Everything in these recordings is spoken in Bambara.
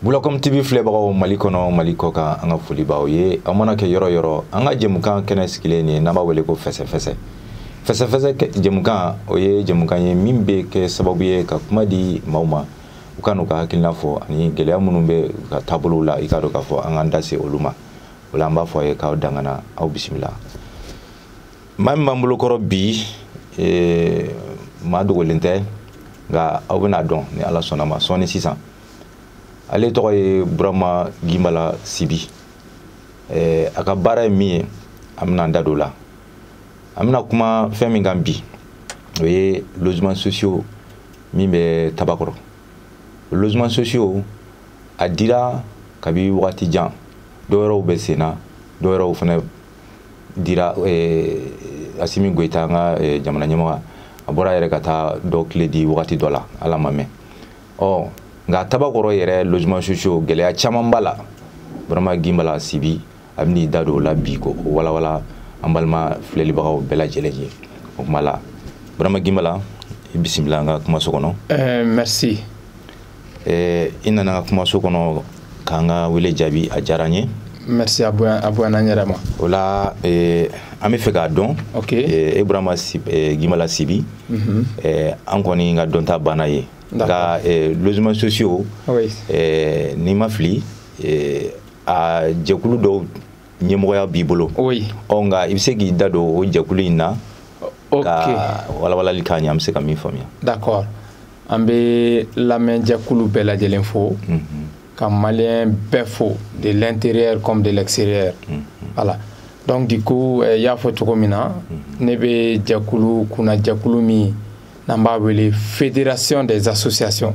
bulakɔm tv filɛbagaw mali kɔnɔ mali kɔ kan an ka foli b'aw ye aw mana kɛ yɔrɔ yɔrɔ an ka jɛmukan kɛnɛ sigilen ye n'an b'a wele ko fɛsɛfɛsɛ fɛsɛfɛsɛ jɛmukan o ye jɛmukan ye min bɛ kɛ sababu ye ka kuma di maaw ma u ka n'u ka hakilina fɔ ani gɛlɛya minnu bɛ u ka taabolow la i k'a dɔn k'a fɔ an k'an da se olu ma o la an b'a fɔ a ye k'aw dangana aw bisimila maa min b'an bolokɔrɔ bi eh, maa dogolen tɛ nka aw bɛn'a dɔn ni ala sɔnn'a ma sɔɔni sisan ale tɔgɔ ye burama gimbala sibi eh, a ka baara ye min ye an bɛna an da don o la an bɛna kuma fɛn min kan bi o ye logements sociaux min bɛ tabakɔrɔ logements sociaux a dira kabi wagati jan dɔwɛrɛw bɛ sen na dɔwɛrɛw fana dira eh, asimi goyita an ka eh, jamana ɲɛmɔgɔ a bɔra yɛrɛ ka taa dɔ clé di wagati dɔ la hal'a ma mɛn ɔ nka tabakɔrɔ yɛrɛ logements sociaux gɛlɛya caman b'a la burama gimbala sibi a bɛn'i da don o la bi k'o walawala an balima filɛlibagaw bɛɛ lajɛlen ye o kuma la burama gimbala i bisimila an ka kumaso kɔnɔ eh, merci eh, i nana an ka kumaso kɔnɔ k'an ka wele jaabi a diyara n ye merci a bonyana n yɛrɛ ma o la eh, an bɛ fɛ k'a dɔn eh, ibrahima gimbala sibi mhm. an kɔni ka dɔnta banna ye nka logements sociaux ni n ma fili a jɛkulu dɔw ɲɛmɔgɔya b'i bolo ɔ nka i bɛ se k'i da don o jɛkulu in na ka walawalali k'a ɲɛ an bɛ se ka min faamuya d'accord an bɛ lamɛnjɛkulu bɛɛ lajɛlen fo ka maliyɛn bɛɛ fo de l'intérieur comme de l'extérieur voilà donc du coup eh, y'a fɔ cogo min na ne bɛ jɛkulu kunna jɛkulu min n'an b'a wele fédération des associations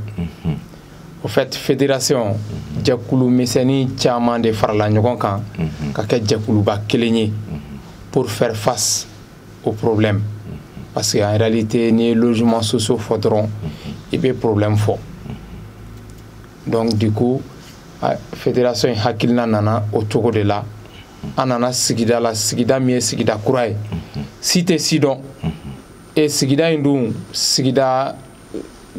au fait fédération jɛkulu misɛnnin caman de farala ɲɔgɔn kan ka kɛ jɛkuluba kelen ye pour faire face aux problèmes parce que en réalité n'i ye logements sociaux fɔ dɔrɔn i bɛ problème fɔ donc du coup fédération in hakilina nana o cogo de la an nana sigida la sigida min ye sigida kura ye si tɛ si dɔn et sigida in dun sigida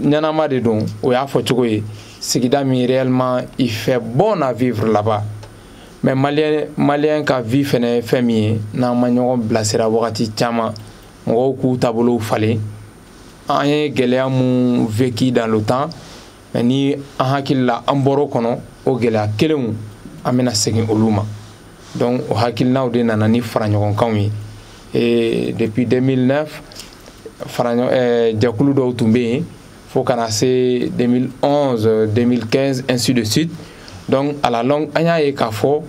ɲɛnama de don o y'a fɔ cogo ye sigida min réellement il fait bon à vivre là-bas mais malien malien ka vie fɛnɛ ye fɛn min ye n'an ma ɲɔgɔn bilasira wagati caman mɔgɔw k'u taabolow falen an ye gɛlɛya mun vécu dans le temps mais ni an hakili la an bɔr'o kɔnɔ o gɛlɛya kelenw an bɛna segin olu ma donc o hakilinaw de nana ni faraɲɔgɔnkanw ye et depuis 2009 fara eh, jɛkulu dɔw tun bɛ yen fo ka na se 2011 2015 ainsi de suite donc à la longue an y'a ye k'a fɔ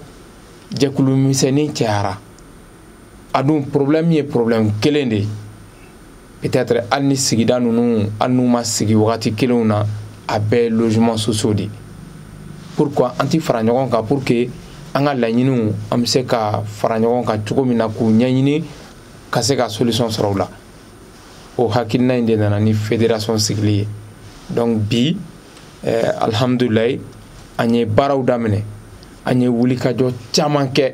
jɛkulu misɛnnin cayara a dun problème ye problème kelen de ye peut-être hali ni sigida ninnu hali n'u ma sigi wagati kelenw na a bɛɛ ye logement sociaux de ye pourquoi an ti fara ɲɔgɔn kan pour que an ka laɲiniw an bɛ se ka fara ɲɔgɔn kan cogo min na k'u ɲɛɲini ka se ka solution sɔrɔ u la o hakilina in de nana ni fédération sigili ye donc bi eh, alhamdulilayi an ye baaraw daminɛ an ye wulikajɔ caman kɛ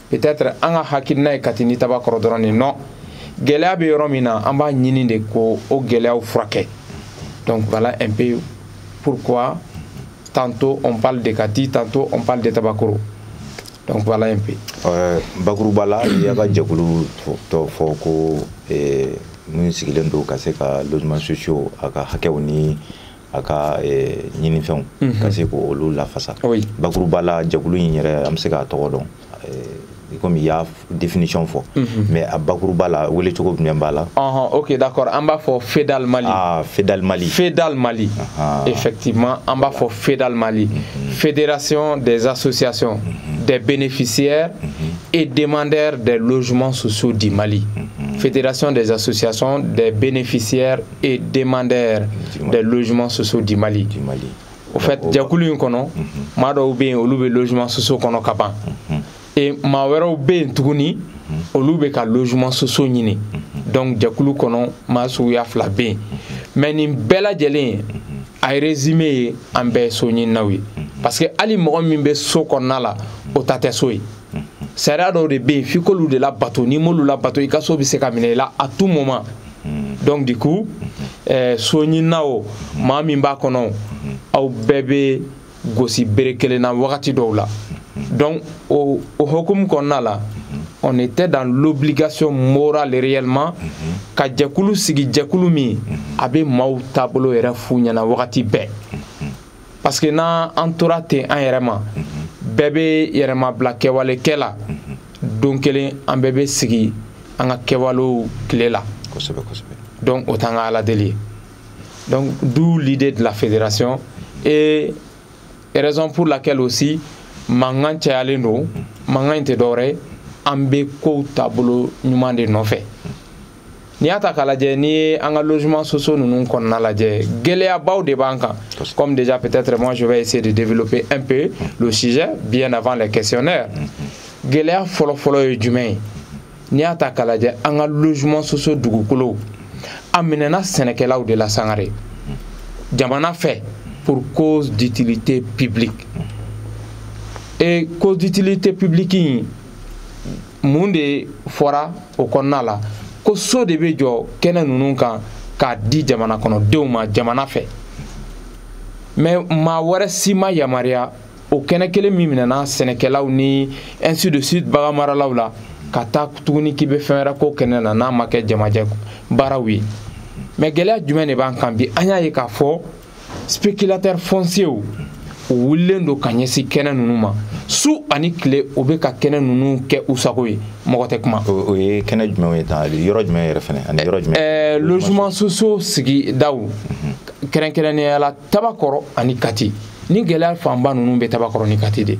peut-être an ka hakilina ye kati ni tabakɔrɔ dɔrɔn de non gɛlɛya bɛ yɔrɔ min na an b'a ɲini de k'o gɛlɛyaw furakɛ donc voilà un peu pourquoi tantôt on parle de kati tantôt on parle de tabakoro donc voilà un peu euh, bakuruba la i y'a ka jɛkulu tɔgɔ fɔ ko eh, min sigilen don ka se ka logement sociaux a ka hakɛw ni a ka eh, ɲinifɛnw mhm. ka se k'olu lafasa bakuruba la jɛkulu in yɛrɛ an bɛ se k'a tɔgɔ dɔn eh, komi i y'a définition fɔ mhm. mais a bakuruba la welecogo jumɛn b'a la ok d'accord an b'a fɔ fedal mali ah, fedal mali fedal mali effectivement an b'a fɔ fedal mali mhm. fédération des associations des bénéficiaires et demandeurs des logements sociaux du mali fédération des associations des bénéficiaires et demandeurs des logements sociaux du Mali. Du Mali. Au fait, jɛkulu in kɔnɔ mhm. maa dɔw bɛ yen olu bɛ logement sociaux kɔnɔ ka ban mhm. et maa wɛrɛw bɛ yen tuguni mhm. olu bɛ ka logement sociaux ɲini donc jɛkulu kɔnɔ maa suguya fila bɛ yen mais nin bɛɛ lajɛlen a résumé ye an bɛɛ ye soɲininaw ye parce que hali mɔgɔ min bɛ so kɔnɔna la o ta tɛ so ye sariya dɔw de bɛ yen f'i k'olu de labato n'i m'olu labato i ka so bɛ se ka minɛ i la à tout moment donc du coup eh, soɲinina o maa min b'a kɔnɔ o aw bɛɛ bɛ gosi bere kelen na wagati dɔw la donc o hukumu kɔnɔna la on était dans l'obligation morale réellement ka jɛkulu sigi jɛkulu min a bɛ maaw taabolo yɛrɛ f'u ɲɛna wagati bɛɛ parce que n'an tora ten an yɛrɛ ma bɛɛ bɛ yɛrɛmabila kɛwale kɛ la don kelen an bɛɛ bɛ sigi an ka kɛwalew tile la donc o t'an ka ala deli ye donc d'où l'idée de la fédération et raison pour laquelle aussi mankan cayalen don mankan in tɛ dɔwɛrɛ ye an bɛ kow taabolo ɲuman de nɔfɛ n'i y'a ta k'a lajɛ n'i ye an ka logement sociaux ninnu kɔnɔna lajɛ gɛlɛyabaw de b'an kan comme déjà peut-être moi je vais essayer de développer un peu le sujet bien avant les questionnaires mm-hmm. gɛlɛya fɔlɔfɔlɔ ye jumɛn ye n'i y'a ta k'a lajɛ an ka logement sociaux dugukolow a minɛna sɛnɛkɛlaw de la sangare jamana fɛ pour cause d'utilité publique mm-hmm. et cause d'utilité publique in mun de fɔra o kɔnɔna la ko so de bɛ jɔ kɛnɛ ninnu kan k'a di jamana kɔnɔdenw ma jamana fɛ mais maa wɛrɛ si ma yamaruya o kɛnɛ kelen min minɛna sɛnɛkɛlaw ni ainsi de suite baganmaralaw la ka taa tuguni k'i bɛ fɛn wɛrɛ k'o kɛnɛ na n'a ma kɛ jamajɛ baaraw ye mais gɛlɛya jumɛn de b'an kan bi an y'a ye k'a fɔ spéculateur foncierw o wulilen don ka ɲɛsin kɛnɛ ninnu ma su ani tile o bɛ ka kɛnɛ ninnu kɛ u sago ye mɔgɔ tɛ kuma. o ye kɛnɛ jumɛnw ye tan yɔrɔ jumɛn yɛrɛ fana ani yɔrɔ jumɛn. ɛɛ logement sociaux sigidaw mhm. kɛrɛnkɛrɛnnenya la tabakɔrɔ ani kati nin gɛlɛya fanba ninnu bɛ tabakɔrɔ ni kati de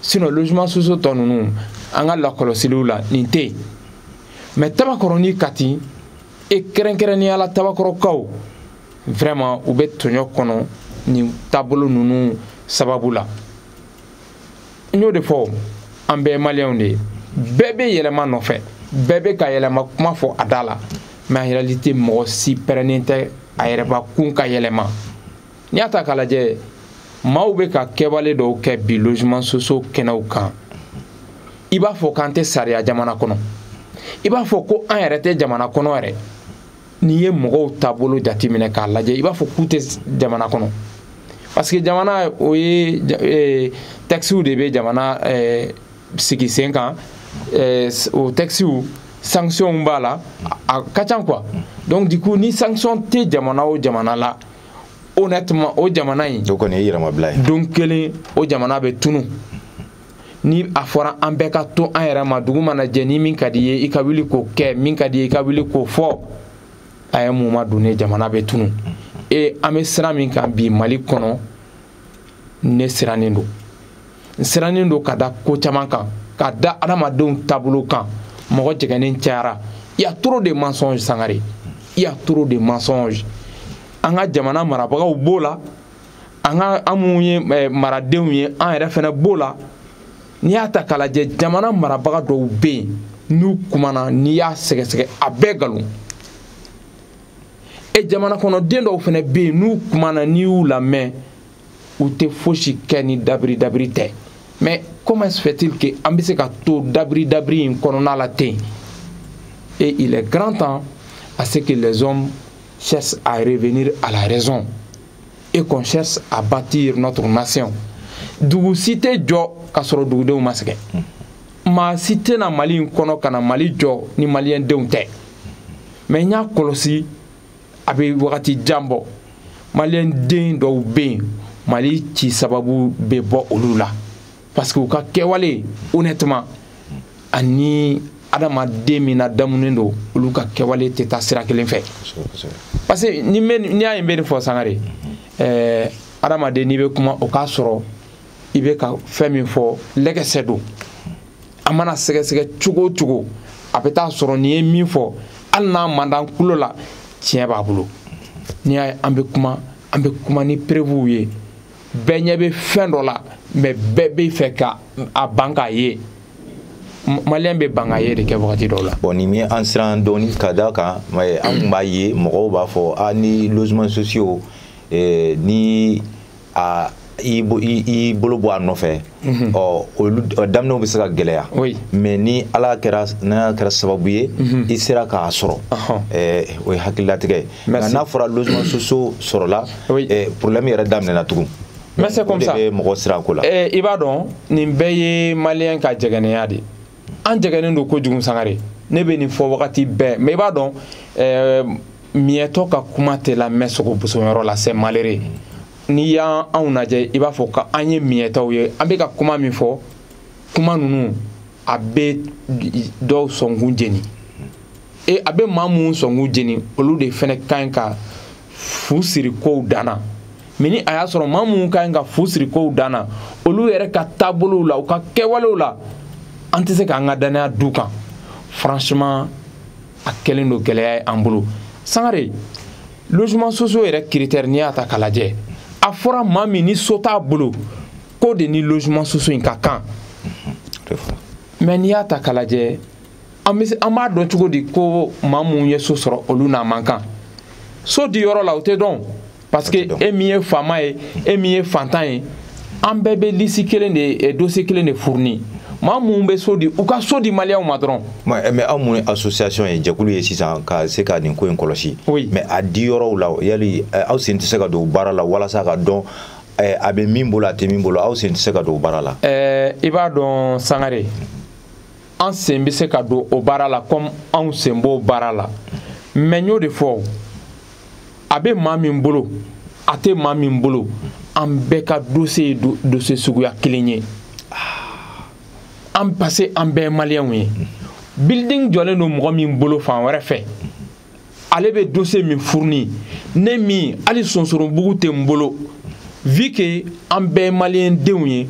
sinon logement sociaux tɔ ninnu an ka lakɔlɔsiliw la nin tɛ yen mais tabakɔrɔ ni kati et kɛrɛnkɛrɛnnenya la tabakɔrɔkaw vraiment u bɛ tɔɲɔ kɔnɔ nin taabolo ninnu sababu la n y'o de fɔ an bɛɛ maliyɛnw de ye bɛɛ bɛ yɛlɛma nɔfɛ bɛɛ bɛ ka yɛlɛma kuma fɔ a da la mais en réalité mɔgɔ si pɛrɛnnen tɛ a yɛrɛbakun ka yɛlɛma n'i y'a ta k'a lajɛ maaw bɛ ka kɛwale dɔw kɛ bi logement sociaux kɛnɛw kan i b'a fɔ k'an tɛ sariya jamana kɔnɔ i b'a fɔ ko an yɛrɛ tɛ jamana kɔnɔ yɛrɛ n'i ye mɔgɔw taabolo jateminɛ k'a lajɛ i b'a fɔ k'u tɛ jamana kɔnɔ parce que jamana o ye eh, textes de bɛ jamana eh, sigi sen kan eh, o textes sanctions b'a la a ka ca quoi donc du coup ni sanction tɛ jamana o jamana la honnêtement o jamana in o kɔni ye yɛrɛmabila ye don kelen o jamana bɛ tunu ni a fɔra an bɛɛ ka to an yɛrɛ ma dugu mana jɛ ni min ka d'i ye i ka wuli k'o kɛ min ka d'i ye i ka wuli k'o fɔ à un moment donné jamana bɛ tunu et an bɛ sira min kan bi mali kɔnɔ ne sirannen don n sirannen don ka da ko caman kan ka da adamadenw taabolo kan mɔgɔ jɛgɛnnen cayara il y a trop de mensonges sangare il y a trop de mensonges an ka jamana marabagaw b'o la an ka an minnu ye eh, maradenw ye an yɛrɛ fɛnɛ b'o la n'i y'a ta k'a lajɛ jamana marabaga dɔw bɛ yen n'u kumana n'i y'a sɛgɛsɛgɛ a bɛɛ nkalon et jamana kɔnɔden dɔw fɛnɛ bɛ yen n'u kumana n'i y'u lamɛn u tɛ fosi kɛ ni dabiri dabiri tɛ mais comment se fait-il que an bɛ se ka to dabiri dabiri in kɔnɔna la ten et il est grand temps à ce que les hommes cherchent à revenir à la raison et qu'on cherche à bâtir notre nation dugu si tɛ jɔ ka sɔrɔ dugudenw ma sɛgɛn maa si tɛ na mali in kɔnɔ ka na mali jɔ ni maliyɛn denw tɛ mais n y'a kɔlɔsi a bɛ wagati jan bɔ maliyɛn den dɔw bɛ yen mali ci sababu bɛ bɔ olu la parce que u ka kɛwale honnêtement ani adamaden min ladamunen don olu ka kɛwale tɛ taa sira kelen fɛ parce que n'i y'a ye n bɛ nin fɔ sangare ɛɛ adamaden n'i bɛ kuma o k'a sɔrɔ i bɛ ka fɛn min fɔ lɛgɛsɛ don a mana sɛgɛsɛgɛ cogo o cogo a bɛ t'a sɔrɔ nin ye min fɔ hali n'a man d'an kulo la tiɲɛ b'a bolo n'i y'a ye an bɛ kuma an bɛ kuma ni preuves ye bɛɛ ɲɛ bɛ fɛn dɔ la mais bɛɛ bɛ fɛ ka a ban k'a ye maliyɛn bɛ ban ka ye de kɛ wagati dɔw la bon nin ye an siran dɔɔni ka da kan an kun b'a ye mɔgɔw b'a fɔ a ni logements sociaux eh, ni a i bolo bɔ a nɔfɛ Mhm. ɔ olu daminɛw bɛ se ka gɛlɛya mais ni ala kɛra n'a kɛra sababu ye mhm. i sera k'a sɔrɔ o ye hakililatigɛ ye nka n'a fɔra logements sociaux sɔrɔla problème yɛrɛ daminɛna tugun mais c'est comme ça mɔgɔ siran ko la i b'a dɔn nin bɛɛ ye maliyɛn ka jɛgɛnnenya de an jɛgɛnnen don kojugu sangare ne bɛ nin fɔ wagati bɛɛ mais i b'a dɔn miyɛtɔ ka kuma tɛ lamɛn sogo bosonyɔrɔ la c'est malheureux n'i y'anw lajɛ i b'a fɔ ko an ye miyɛtɔw ye an bɛ ka kuma min fɔ kuma ninnu a bɛ dɔw sɔnkun jeni e a bɛ maa minnu sɔnkun jeni olu de fana ka ɲi ka fu siri kow dan na mais ni a y'a sɔrɔ maa minnu ka ɲi ka fu siri kow dan na olu yɛrɛ ka taabolow la u ka kɛwalew la an tɛ se k'an ka dannaya d'u kan franchement a kɛlen don gɛlɛya ye an bolo sangare logements sociaux yɛrɛ critère n'i y'a ta k'a lajɛ a fɔra maa min ni so t'a bolo k'o de ni logements sociaux in ka kan mais n'i y'a ta k'a lajɛ an b'a dɔn cogo di ko maa minnu ye so sɔrɔ olu n'a man kan so di yɔrɔ la o tɛ dɔn parce que e min ye faama ye e min ye fantan ye an bɛɛ bɛ lisi kelen de eh, dossier kelen de fourni maa minnu bɛ so di u ka so di maliyɛnw ma dɔrɔn eh, mais aw mun association ye jɛkulu ye sisan ka se ka nin ko in kɔlɔsi mais a di yɔrɔw la yali eh, aw sen tɛ se ka don baara la walasa ka dɔn a bɛ min bolo a tɛ min bolo aw sen tɛ se ka don baara la i b'a dɔn sangare an sen bɛ se ka don o baara la comme anw sen b'o baara la mais n y'o de fɔ a bɛ maa min bolo a tɛ maa min bolo an bɛɛ ka dossier ye dossier suguya kelen ye an parce que an bɛɛ ye maliyɛnw ye building jɔlen don mɔgɔ min bolo fan wɛrɛ fɛ ale bɛ dossier min fourni ne min hali sonsorobugu tɛ n bolo vu que an bɛɛ maliyɛn denw ye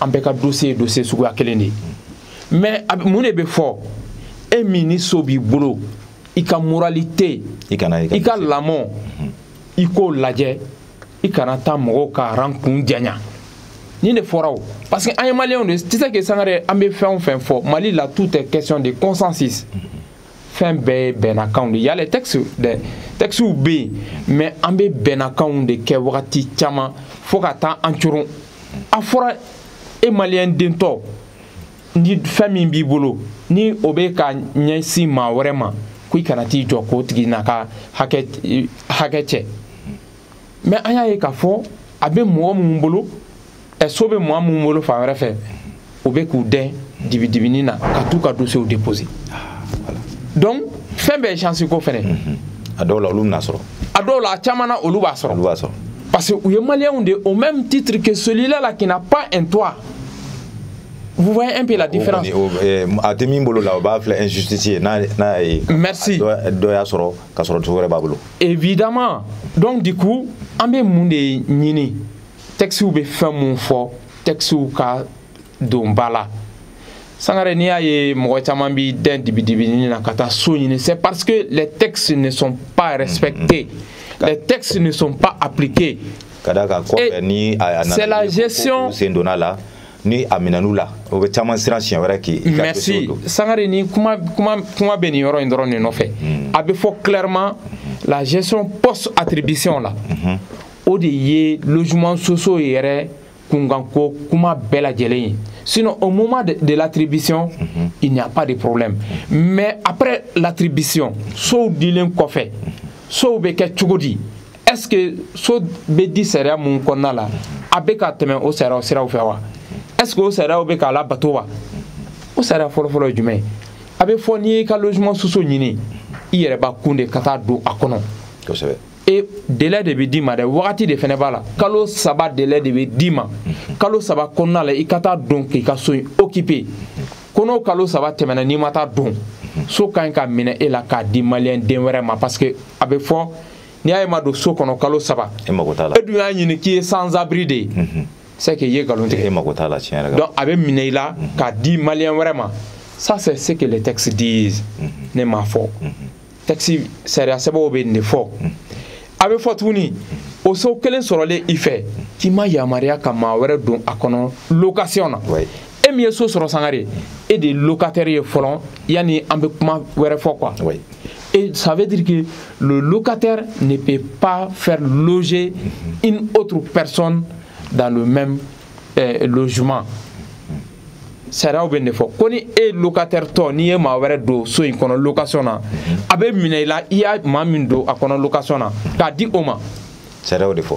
an bɛɛ ka dossier ye dossier suguya kelen de ye mais mun de bɛ fɔ e min ni so b'i bolo i ka moralité i ka lamɔ mhm. i k'o lajɛ i kana taa mɔgɔw ka rang kun janya nin de fɔra o parce que an ye maliyɛnw de tu sais que sangare an bɛ fɛn o fɛn fɔ mali la tout est question de consensus mhm. fɛn bɛɛ ye bɛnnakanw de y a les textes dɛ textew bɛ yen mais an bɛ bɛnnakanw de kɛ wagati caman fo ka taa an coron a fɔra e maliyɛn dentɔ ni fɛn min b'i bolo ni o bɛ ka ɲɛsin maa wɛrɛ ma ko i kana t'i jɔ k'o tigi n'a ka hakɛ hakɛ cɛ mais an y'a ye k'a fɔ a bɛ mɔgɔ minnu bolo ɛ so bɛ mɔgɔ minnu bolo fan wɛrɛ fɛ u bɛ k'u dɛn dibidibinin na ka t'u ka dossierw déposer donc fɛn bɛɛ ye chance ko fɛnɛ mhm. a dɔw la olu bɛn'a sɔrɔ a dɔw la a caman na olu b'a sɔrɔ olu b'a sɔrɔ parce que u ye maliyɛnw de au même titre que celui-là là qui n'a pas un toit Vous voyez un peu la différence. Eh, a tɛ min bolo la o b'a filɛ injustice ye n'a n'a ye. merci dɔ y'a sɔrɔ ka sɔrɔ cogo wɛrɛ b'a bolo. évidemment donc du coup an bɛ mun de ɲini textew bɛ fɛn mun fɔ textew ka don ba la sangare n'i y'a ye mɔgɔ caman b'i dɛn dibidibinin na ka taa so ɲini c'est parce que les textes ne sont pas respectés mm-hmm. les textes ne sont pas appliqués ka d'a kan kɔfɛ ni a nana c'est la gestion sen donn'a la ni a minɛn'u la o bɛ caman siran siɲɛ wɛrɛ k'i ka merci sangare ni kuma kuma kuma bɛ nin yɔrɔ in dɔrɔn de nɔfɛ hmm. a bɛ fɔ clairement hmm. la gestion post attribution la hmm. o de ye logements sociaux yɛrɛ kunkanko kuma bɛɛ lajɛlen ye sinon au moment de, de l'attribution il n'y a pas de problème mais après l'attribution sow dilen kɔfɛ sow bɛ kɛ cogo di est ce que so bɛ di sariya mun kɔnɔna la a bɛ ka tɛmɛ o sariyaw siraw fɛ wa est ce que o sariyaw bɛ k'a labato wa o sariya fɔlɔfɔlɔ ye jumɛn ye a bɛ fɔ n'i y'i ka logement sociaux ɲini i yɛrɛ b'a kun de ka taa don a kɔnɔ kosɛbɛ e délai de bɛ d'i ma dɛ wagati de fɛnɛ b'a la kalo saba délai de bɛ d'i ma kalo saba kɔnɔna la i ka taa don k'i ka so in occuper ko n'o kalo saba tɛmɛna n'i ma taa don so ka ɲi ka minɛ e la k'a di maliyɛn den wɛrɛ ma parce que a bɛ fɔ n'i y'a ye i ma don so kɔnɔ kalo saba e mago t'a la e dun y'a ɲini k'i ye sans abri de ye mhm. c'est que i ye nkalon tigɛ e mago t'a la tiɲɛ yɛrɛ la donc a bɛ minɛ i la mhm. k'a di maliyɛn wɛrɛ ma ça c'est ce que les textes disent mhm. ne m'a fɔ texte sariya sɛbɛnw bɛ nin de fɔ a bɛ fɔ tuguni o so kelen sɔrɔlen i fɛ k'i ma yamaruya ka maa wɛrɛ don a kɔnɔ location na e min ye so sɔrɔ sangare e de ye locataire ye fɔlɔ yanni an bɛ kuma wɛrɛ fɔ quoi oui. et ça veut dire que le locataire ne peut pas faire loger mm-hmm. une autre personne dans le même euh, logement sariyaw bɛ nin de fɔ ko ni e locataire tɔ n'i ye maa wɛrɛ don so in kɔnɔ location na mm-hmm. a bɛ minɛ i la i y'a maa min don a kɔnɔ location na k'a di o ma sariya y'o de fɔ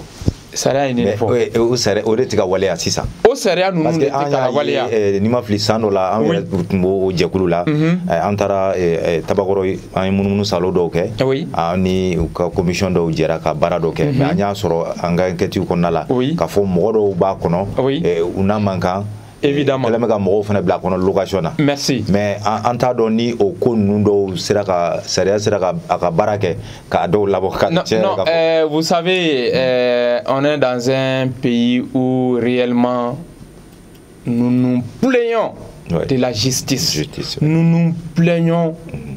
sariya ye nin de fɔ o sariya o de tɛ ka waleya sisan o sariya ninnu de tɛ ka waleya parce que an y'a ye ni n ma fili san dɔ la an yɛrɛ tun b'o jɛkulu la an taara tabakɔrɔ an ye munumunu salo dɔw kɛ an ni u ka komisiyɔn dɔw jɛra ka baara dɔ kɛ mais an y'a sɔrɔ an ka enquêtew kɔnɔna la k'a fɔ mɔgɔ dɔw b'a kɔnɔ u n'a man kan évidemment kɛlɛ bɛ ka mɔgɔw fana bila a kɔnɔ location na merci mais an t'a dɔn ni o ko ninnu dɔw sera ka sariya sera ka a ka baara kɛ k'a dɔw labɔ ka tiɲɛ non euh, vous savez euh, on est dans un pays où réellement nous nous plaignons ouais. de la justice, justice ouais. nous nous plaignons mm -hmm.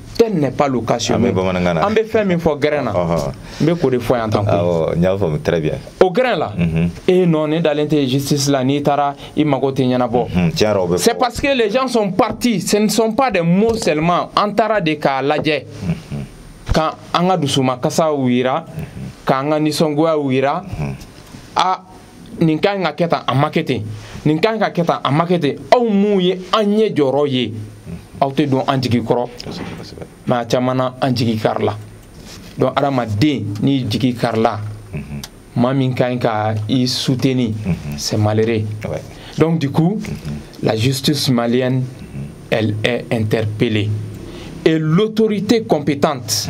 tel n'est pas le cas chez nous an bɛ fɛn min fɔ gɛrɛn na n bɛ k'o de fɔ yan tan koyi n y'a faamu très bien o gɛrɛn la e non ne dalen tɛ justice la n'i taara i mago tɛ ɲɛnabɔ c'est parce que les gens sont partis ce ne sont pas des mots seulement an taara de k'a lajɛ ka an ka dusumakasiw jira k'an ka nisɔngoyaw jira a nin ka ɲi ka kɛ tan a ma kɛ ten nin ka ɲi ka kɛ tan a ma kɛ ten aw minnu ye an ɲɛ jɔyɔrɔ ye aw tɛ don an jigi kɔrɔ mais a caman na an jigi karila donc hadamaden n'i jigi karila maa min ka ɲi ka i soutenir c'est malheureux donc du coup la justice malienne elle est interpellée et l'autorité compétente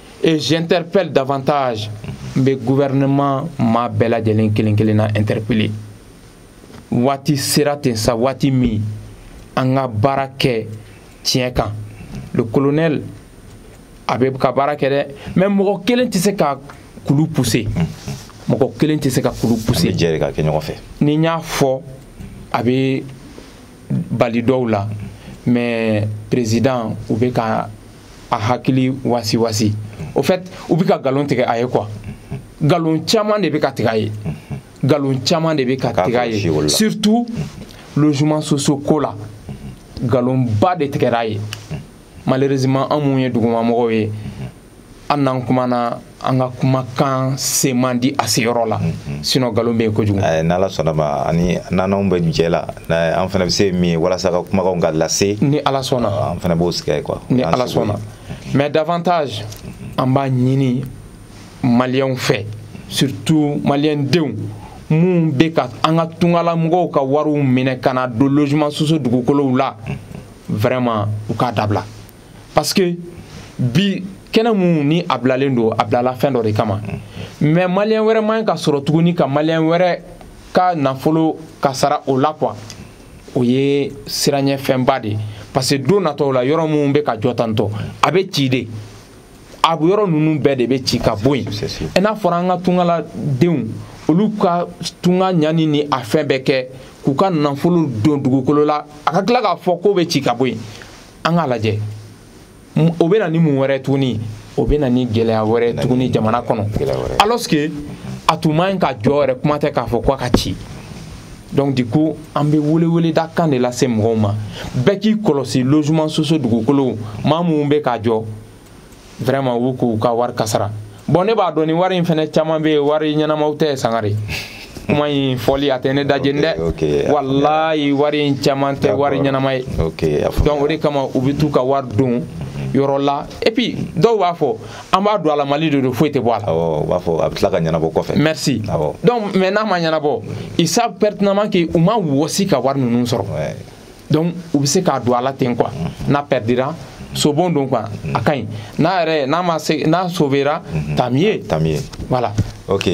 Et j'interpelle davantage n bɛ gouvernement maa bɛɛ lajɛlen kelen kelen na interpeller waati sera ten sa waati min an ka baara kɛ tiɲɛ kan le colonel a bɛ ka baara kɛ dɛ mais mɔgɔ kelen tɛ se ka kulu pousser mɔgɔ kelen tɛ se ka kulu pousser an bɛ jɛ de ka kɛ ɲɔgɔn fɛ ni n y'a fɔ a bɛ bali dɔw la mais président u bɛ ka a hakili wasiwasi au fait u bɛ ka nkalon tigɛ a ye quoi nkalon caman de bɛ ka tigɛ a ye nkalon caman de bɛ ka tigɛ a ye surtout logement sociaux ko la nkalonba de tigɛra a ye malheureusement an minnu ye dugumamɔgɔw ye an n'an kumana an ka kumakan se man di a seyɔrɔ la mhm. sinon nkalon bɛ yen kojugu eh, n'ala sɔnna ma ani n'anw bɛ jɛ la an fana bɛ se min ye walasa ka kumakanw ka lase ni ala sɔnna ah, an fana b'o sig'a ye quoi ni ala sɔnna mais davantage an b'a ɲini maliyɛnw fɛ surtout maliyɛn denw minnu bɛ ka an ka tungala mɔgɔw ka wariw minɛ ka n'a don logement sociaux dugukolow la mhm. vraiment u k'a dabila parce que bi kɛnɛ minnu ni a bilalen don a bilala fɛn dɔ de kama mais maliyɛn wɛrɛ man ɲi ka sɔrɔ tuguni ka maliyɛn wɛrɛ ka nafolo kasara o la quoi o ye siranyɛfɛnba de ye parce que don natɔw la yɔrɔ minnu bɛ ka jɔ tantôt a bɛ ci de a yɔrɔ ninnu bɛɛ de bɛ ci ka bɔ yen i n'a fɔra an ka tungala denw olu ka tunga ɲani ni a fɛn bɛɛ kɛ k'u ka nafolo don dugukolo la a ka tila k'a fɔ k'o bɛ ci ka bɔ yen an k'a lajɛ o bɛ na ni mun wɛrɛ tuguni o bɛ na ni gɛlɛya wɛrɛ tuguni jamana kɔnɔ alors que a tun man ɲi ka jɔ yɛrɛ kuma tɛ k'a fɔ ko a ka ci donc du coup an bɛ weleweleda kan de lase mɔgɔw ma bɛɛ k'i kɔlɔsi logement sociaux dugukolow maa minnu bɛ k'a jɔ vraiment u bɛ k'u ka wari kasara bon ne b'a dɔn ni wari in fɛnɛ caman bɛ yen wari ɲɛnamaw tɛ sangare kuma in fɔli a tɛ ne da jeni dɛ walayi wari in caman tɛ wari ɲɛnama ye donc o de kama u bɛ t'u ka wari don yɔrɔ la et puis dɔw b'a fɔ an b'a don a la mali de don foyi tɛ bɔ a la awɔ u b'a fɔ a bɛ tila ka ɲɛnabɔ kɔfɛ merci awɔ donc mais n'a ma ɲɛnabɔ ils savent pertinemment que u ma wɔsi ka wari ninnu sɔrɔ donc u bɛ se k'a don a la ten quoi n'a perdira sobon don quoi a ka ɲi n'a yɛrɛ n'a ma se n'a sauvera mhm. tant mieux tant mieux voilà ok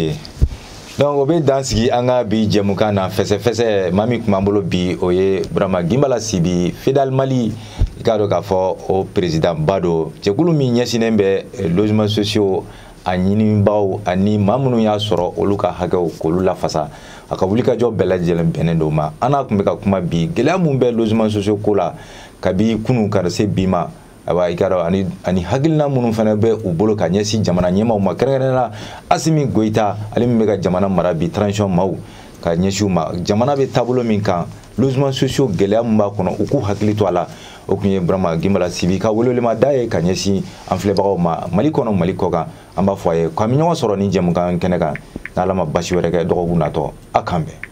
donc o bɛ dan sigi an ka bi jɛmukan na fɛsɛfɛsɛ maa min tun b'an bolo bi o ye burama ginbala sibi fidal mali i k'a dɔn k'a fɔ o peresidanba don jɛkulu min ɲɛsinnen bɛ eh, logement sociaux a ɲininbaaw ani maa minnu y'a sɔrɔ olu ka hakɛw k'olu lafasa a ka wulikajɔ bɛɛ lajɛlen bɛnnen don ma an n'a tun bɛ ka kuma bi gɛlɛya min bɛ logements sociaux ko la kabi kunun ka se bi ma ayiwa i k'a dɔn ani ani hakilina minnu fana bɛ u bolo ka ɲɛsin jamana ɲɛmaaw ma kɛrɛnkɛrɛnnenya la asimi goyita ale min bɛ ka jamana mara bi transition maaw ka ɲɛsin u ma jamana bɛ taabolo min kan logements sociaux gɛlɛya min b'a kɔnɔ u k'u hakili to a la o tun ye burama gimbala sibi ka welewelema da ye ka ɲɛsin an filɛbagaw ma mali kɔnɔ mali kɔkan an b'a fɔ a ye k'an bɛ ɲɔgɔn sɔrɔ ni jɛmukan kɛnɛ kan n'ala ma basi wɛrɛ kɛ dɔgɔkun natɔ a k'an bɛn